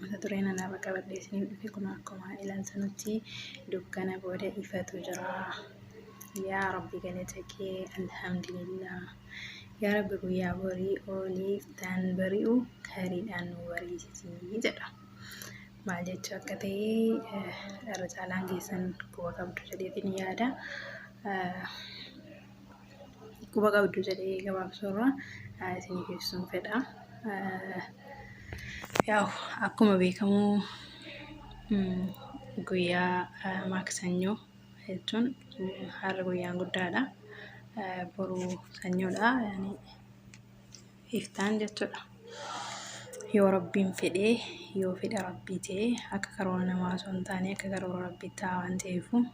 mata duree nan irra qabadhee isiniif dhufe kun akkuma ilaaltanutti dukkana booda ifatu jira. Yaa Rabbi galata kee alhamdulillah. Yaa Rabbi guyyaa borii oolii taan bari'u kariidhaan nu bariisisii jedha. Maal jechuu akka ta'e eh, irra caalaan keessan quba qabdu jedheetiin yaada. Eh, quba qabdu jedhee gabaabsuu irraa isin geessuun fedha. Yaa'u akkuma beekamu guyyaa maaksanyoo jechuun har'a guyyaan guddaadha. Boru sanyoodha. Iftaan jechuudha. Yoo rabbiin fedhee yoo fedha rabbii ta'e akka karoora namaa osoo hin taane akka karoora rabbii ta'a waan ta'eefu.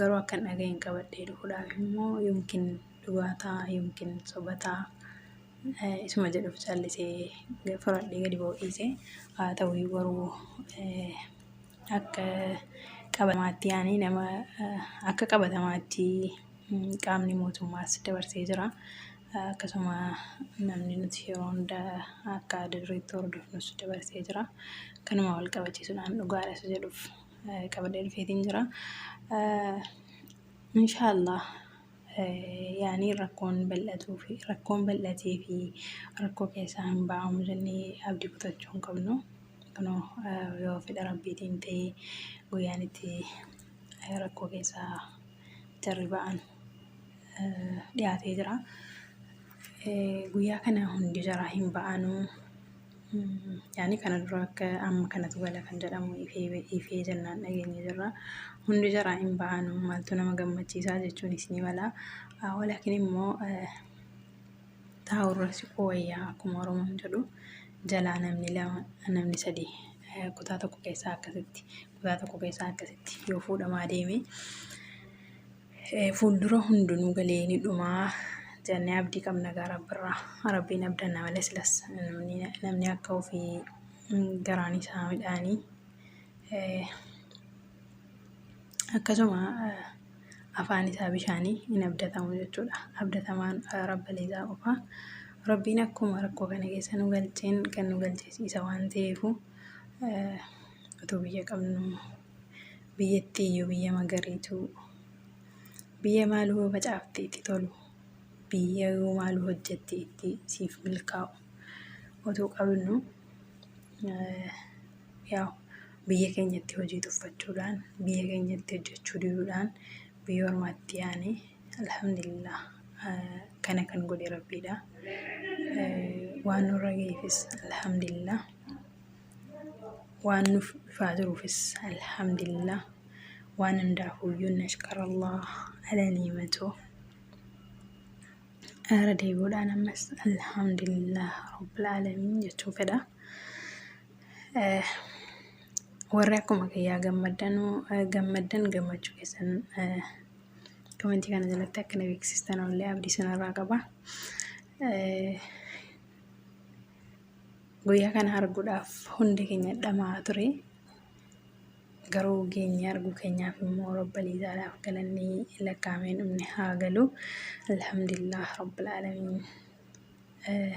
Garuu akka hin dhaga'in qabadhee dhufuudhaaf immoo yookiin dhugaa ta'a yookiin soba ta'a eh, isuma jedhuuf callisee ga- fudhadhee gadi ba'uu dhiise. Haa ta'u iyyuu garuu eh, akka qabatamaatti yaani nama eh, akka qabatamaatti mm, qaamni mootummaas dabarsee jira. Eh, Akkasuma namni nuti yeroo hunda akka adda dureetti hordofnus dabarsee jira. Kanuma wal qabachiisuudhaan dhugaadha isa jedhuuf qabadee dhufeetiin jira. Inshaallah yaanii rakkoon bal'atuu fi rakkoon bal'atee fi rakkoo keessaa hin ba'amu jennee abdii kutachuu hin qabnu. Kunoo yoo fedha rabbiitiin ta'e guyyaan itti rakkoo keessaa jarri ba'an dhiyaatee jira. Guyyaa kana hundi jaraa hin ba'anuu. Yaani kana dura akka amma kanatu gala kan jedhamu ifee ifee jennaan dhageenye jirra. Hundi jaraa hin bahanu maaltu nama gammachiisaa jechuun isinii mala. Ah, Walaakin immoo eh, taa'urra siquu wayyaa akkuma Oromoon jedhu jalaa namni lama namni sadi eh, kutaa tokko keessaa akkasitti kutaa tokko keessaa akkasitti yoo fuudhamaa deeme fuuldura hundinuu galee ni dhumaa jennee abdii qabna gaa rabbirraa rabbiin abdanna malee silas namni namni akka ofii mm, garaan isaa midhaanii Eh, akkasuma eh, afaan isaa bishaanii hin abdatamu jechuudha abdatamaan eh, rabbilee isaa qofa rabbiin akkuma rakkoo kana keessa nu galcheen kan nu galchees isa waan ta'eefu eh, utuu biyya qabnu biyyattii iyyuu biyya magariituu biyya maal hoo facaafte itti tolu biyya yoo maal hojjette itti siif milkaa'u otoo qabnu yaa biyya keenyatti hojii tuffachuudhaan biyya keenyatti hojjechuu diduudhaan biyya ormaatti yaane alhamdulillah kana kan godhe rabbiidha waan nurra ga'eefis alhamdulillah waan nuuf dhufaa jiruufis alhamdulillah waan hundaafuyyuu nashkarallah ala niimatoo ara deebi'uudhaan ammas alhamdulillah rabbil aalamiin jechuu fedha Eh, warri akkuma kiyyaa gammaddanuu eh, gammaddan gammachuu keessan eh, komentii kana jalatti akka na beeksistan ollee abdii sanarraa qaba Eh, Guyyaa kana arguudhaaf hundi keenya dhama'aa ture. Garuu geenye arguu keenyaaf immoo Rabbil Izaadhaaf galanni lakkaa'amee dhumne haa galu. Alhamdulillah Rabbil Aalamiin. Eh,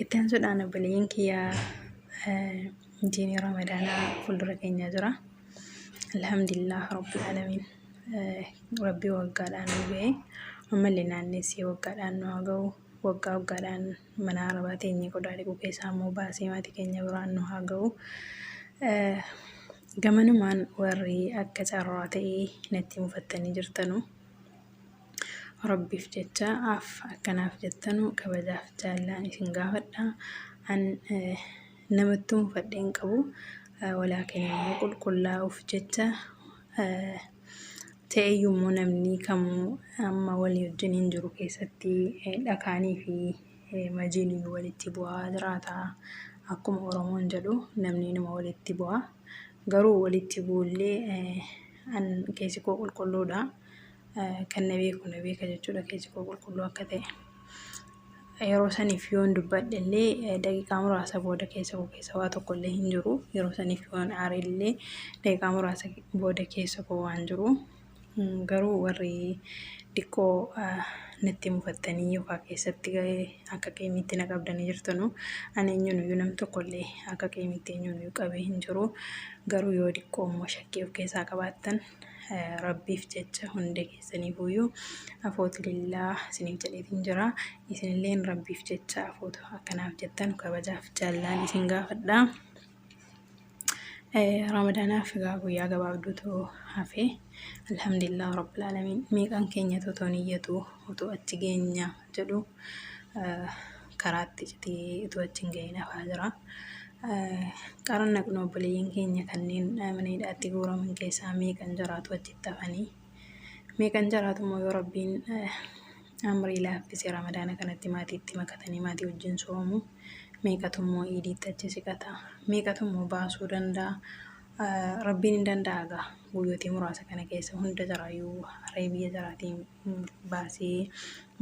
Itti aansuudhaan obboleeyyan kiyya eh, jiini Ramadaanaa fuuldura keenya jira. Alhamdulillah Rabbil Aalamiin. Eh, Rabbi waggaadhaan nu ga'e. Ammallee naannessee waggaadhaan nu haa ga'u. Waggaa waggaadhaan Mana arabaa teenyee qodaa dhiquu keessaa immoo baasee maatii keenya biraan nu haa ga'u. Gamanumaan warri akka carraa ta'ee natti mufattanii jirtanu. Rabbiif jecha af akkanaaf jettanu kabajaaf jaallaan isin gaafadha. An namattuu mufadhee hin qabu. Walaa keenya immoo qulqullaa'uuf jecha Ta'eyyuu immoo namni kamuu amma walii wajjiniin jiru keessatti dhakaanii fi majiin iyyuu walitti bu'aa jiraata. Akkuma Oromoon jedhu namni inuma walitti bu'a. Garuu walitti bu'ullee an keessi koo qulqulluudha. Kan na beeku na beeka jechuudha keessi koo qulqulluu akka ta'e. Yeroo saniif yoon dubbadhe illee daqiiqaa muraasa booda keessa koo keessa waa tokko illee hin jiru. Yeroo saniif yoon aare illee daqiiqaa muraasa booda keessa koo waan jiru. Garuu warri xiqqoo natti mufattanii yookaan keessatti akka qiimiitti na qabdanii jirtanu. Ani eenyunuyyuu nam tokko illee akka qiimiitti eenyunuyyuu qabee hin jiru. Garuu yoo xiqqoo immoo shakkii of keessaa qabaattan rabbiif jecha hundi keessaniifuyyuu afootu lillaa isiniif jedheetiin jira. Isinilleen rabbiif jecha afootu akkanaaf jettan kabajaaf jaallaan isin gaafadha. Ramadaanaaf egaa guyyaa gabaabduutu hafe. Alhamdulillah rabbil alamin meeqan keenya otoo niyyatu otoo achi geenya jedhu karaatti citee otoo achi hin gahin hafaa jira. Qaran naqnu obboleeyyan keenya kanneen mana hidhaatti guuraman keessaa meeqan jiraatu achitti hafanii. Meeqan caraatummoo yoo rabbiin amrii laaffise ramadaana kanatti maatiitti makatanii maatii wajjin soomu meeqatummoo iidiitti achi siqata meeqatummoo baasuu danda'a rabbiin hin danda'a gaa guyyootii muraasa kana keessa hunda caraayyuu haree biyya caraatiin baasee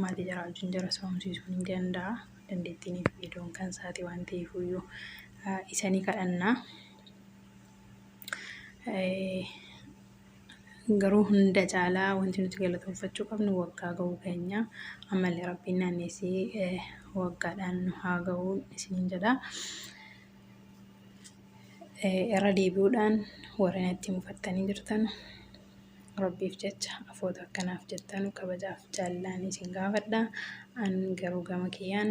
maatii caraa wajjin jara soomsiisuun hin danda'a dandeettiin iddoon kan isaati waan ta'eefuyyuu isanii kadhannaa. Garuu hunda caalaa wanti nuti galatoonfachuu qabnu waggaa ga'uu keenya. Ammallee Rabbiin naanneessee eh, waggaadhaan nu haa ga'u isiniin jedha. Eh, Irra deebi'uudhaan warri natti mufattanii jirtan Rabbiif jecha afoota akkanaaf jettanu kabajaaf jaallalaan isin gaafadha. An garuu gama kiyyaan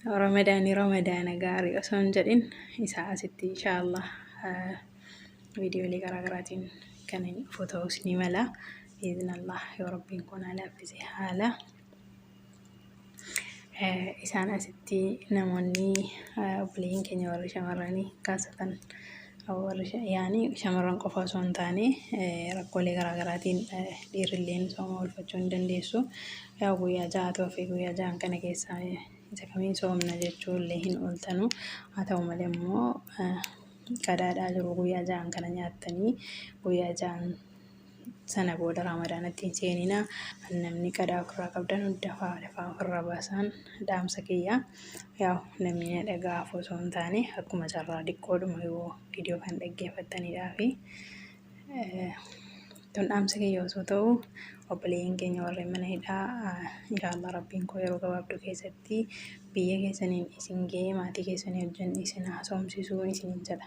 Ramadaani ramadaana gaarii osoo hin jedhin isaa asitti inshaallah viidiyoolee garaagaraatiin kan inni dhufu ta'us ni mala biiznallah yoo rabbiin kun laaffise haala isaan asitti namoonni obboleeyyiin keenya warri shamarranii kaasatan Warri yaani shamarran qofa osoo hin taane rakkoolee garaa garaatiin dhiirrilleen sooma oolfachuu hin dandeessu. Yaa guyyaa ja'atu hafe guyyaa ja'an kana keessaa isa kamiin soomna jechuu illee hin ooltanu. Haa ta'u malee immoo qadaadhaa jiru guyyaa ja'an kana nyaattanii guyyaa ja'an sana booda raamadaanatti hin seenina namni qadaa ofirraa qabdan dafaa dafaa ofirraa baasaan dhaamsa kiyya yaa namni na dhagahaaf osoo hin taane akkuma carraa diqqoodhuma yoo viidiyoo kan dhaggeeffattanidhaa fi tun dhaamsa kiyya osoo ta'u obboleeyyan keenya warreen mana hidhaa inshaallah rabbiin koo yeroo gabaabduu keessatti biyya keessaniin isin ga'ee maatii keessanii wajjin isin haasofsiisuu isiniin jedha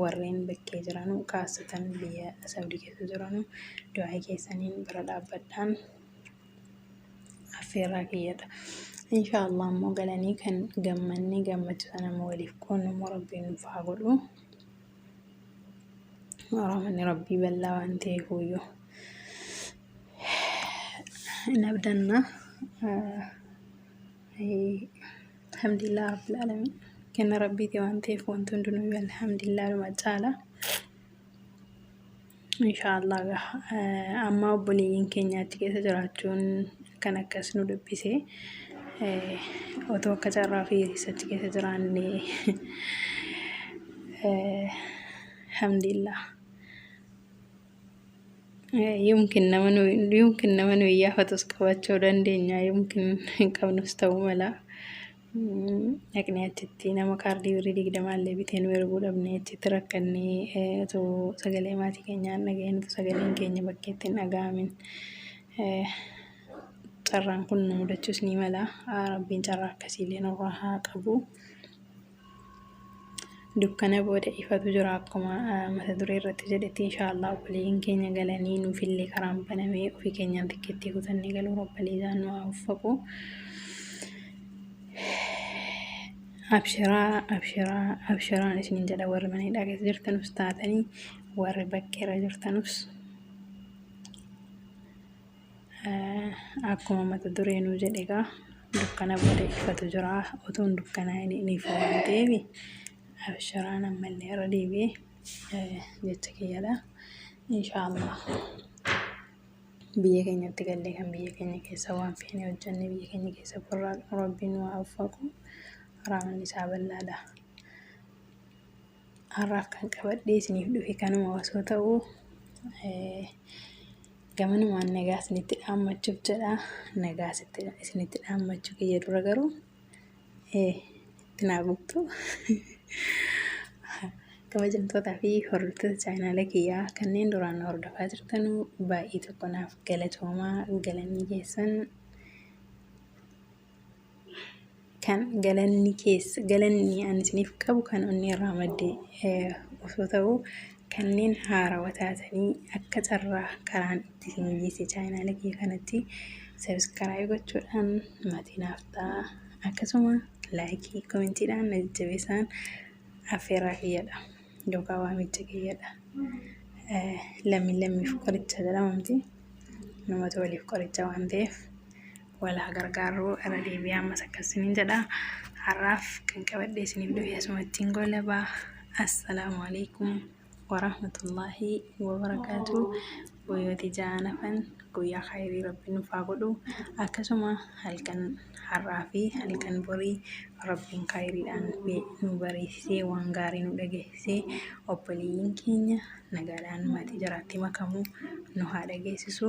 warreen bakkee jiranu kaasatan biyya Saudi keessa jiranu du'aa keessaniin bira dhaabbadhaan affeerraa kiyyadha. Inshaallah ammoo galanii kan gammanne gammachuu sana ammoo waliif qoonnu immoo rabbiin nuuf haa godhu. Rahmanni rabbii bal'aa waan ta'eef huyyuu. Hin abdanna. Alhamdulillah Rabbil Alamin. Kenna Rabbiiti waan ta'eef wanti hundinuu alhamdulillah dhuma caala. Inshaallah amma obboleeyyiin keenya achi keessa jiraachuun kan akkas nu dubbise. Otoo akka carraa fi achi keessa jiraanne alhamdulillah. Yumkin nama nu yumkin nama nu iyyaafatus qabachuu dandeenya yumkin hin qabnus ta'uu mala. Dhaqni achitti nama kaardii birrii digdamaallee bitee nu erguu dhabne achitti rakkannee otoo sagalee maatii keenyaa hin dhaga'in otoo sagaleen keenya bakkeetti hin dhaga'amin carraan kun nu mudachuus ni mala. Rabbiin carraa akkasiillee nurraa haa qabu. dukkana booda ifatu jira akkuma mata duree irratti jedhetti inshaallah obboleeyyan keenya galanii nuufillee karaan banamee ofii keenyaan tikkeettii kutannee galuu rabbalii isaan nu haa uffaqu abshiraa abshiraa abshiraan isiniin jedha warri mana hidhaa keessa jirtanus taatanii warri bakkeerra jirtanus Akkuma mata duree nuu jedhe egaa dukkana booda ifatu jira utuun dukkanaa inni ni ifa waan ta'eef abshiraan ammallee irra deebi'ee jecha kiyyadha. Inshaallah biyya keenyatti gallee kan biyya keenya keessa waan feene hojjenne biyya keenya keessa burraaqnu rabbiin waa uffaqu rahmanni isaa bal'aadha. har'aaf kan qabadhee isiniif dhufe kanuma osoo ta'u gamanumaan nagaa isinitti dhaammachuuf jedha nagaa isinitti dhaammachuu kiyya dura garuu itti naa guutuu kabajamtootaa fi hordoftoota chaayinaala kiyyaa kanneen duraan hordofaa jirtanuu baay'ee tokko naaf galatoomaa galanii keessan kan galanni keessa galanni ani isiniif qabu kan onnee irraa madde eh, osoo ta'u kanneen haarawa taatanii akka carraa karaan itti isin geesse chaayinaala kee kanatti sabiskaraayii gochuudhaan maatii naaf ta'a akkasuma laayikii komentiidhaan na jajjabeessaan affeerraa kiyyadha yookaan waamicha kiyyadha Eh, lammiin lammiif qoricha jedhamamti namatu waliif qoricha waan ta'eef wal haa gargaarru irra deebi'ee ammas akkas isiniin jedha har'aaf kan qabadhee isiniif dhufe asumattiin goolabaa assalaamu alaikum warahmatullaahi wabarakaatu guyyooti ja'aan hafan guyyaa kaayirii rabbi nuuf haa godhu akkasuma halkan har'aa fi halkan borii rabbiin kaayiriidhaan nu bariisisee waan gaarii nu dhageessisee obboleeyyiin keenya nagaadhaan maatii jiraatti makamuu nu haa dhageessisu